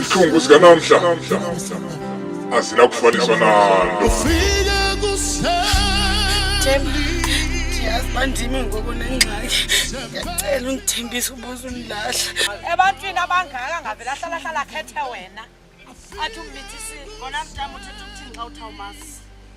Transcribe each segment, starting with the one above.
Isihluku sikanamhla asinakufaniswa nalo. bandimi ngoku nengxaki ndiyacela undithembisa ubuza undilahla ebantwini abangaka ngavele ahlalahlala akhethe wena athi umbithisi ngona mntam uthetha ukuthini xa uthawumasi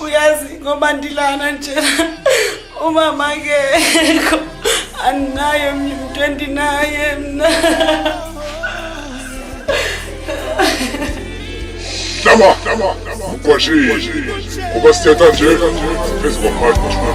uyazi ngoba ndilana nje umama kekho andinaye mntu endinaye mna Dama, dama, dama. Ukwashe, uba siyata nje, phezu kwamanje kwashona.